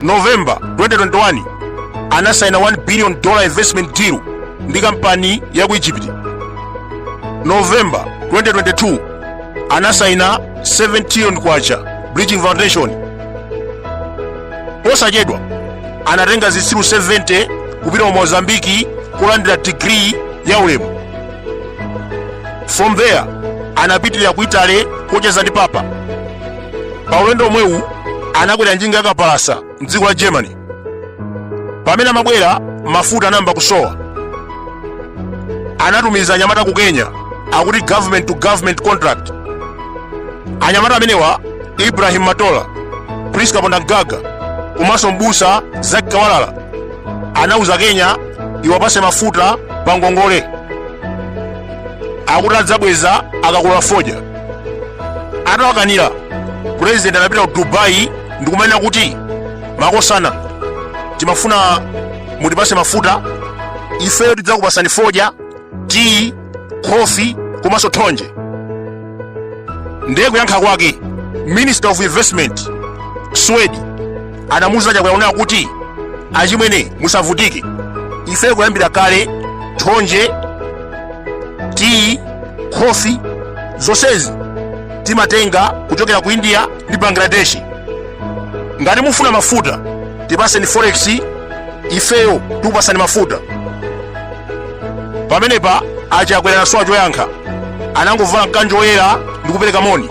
november 2021 anasaina 1 billion dollar investment deal ndi kampani ya ku egypt november 2022 anasaina 7 trillion kwacha bridgin foundation posachedwa anatenga zitsiru 70 kupita ku mozambiki kulandira digiri ya ulemu from there anapitirira ku italy kocheza ndi papa pa ulendo womwewu anakwera njinga yakapalasa mdziko la germany pamene amabwera mafuta anayamba kusowa anatumiza anyamata ku kenya akuti government to government contract anyamata amenewa ibrahim matola prisca ponda gaga komanso mbusa zacc kawalala anauza kenya iwapase mafuta pa ngongole akuti adzabweza akagula fodya atawakanira president anapita ku dubai ndikumanena kuti makosana timafuna mutipase mafuta ifeyo tidzakupasani fodya tiyi khofi komanso thonje ndiye kuyankha kwake minister of investment suwaidi anamuuza achakwera kunena kuti achimwene musavutike ifeyo kuyambira kale thonje tiyi khofi zonsezi timatenga kuchokera ku india ndi bangladesh ngati mufuna mafuta tipaseni forex ifeyo tikupasani mafuta pamenepa achakwera anasowa choyankha anangovala mkanjo woyera ndi kupereka moni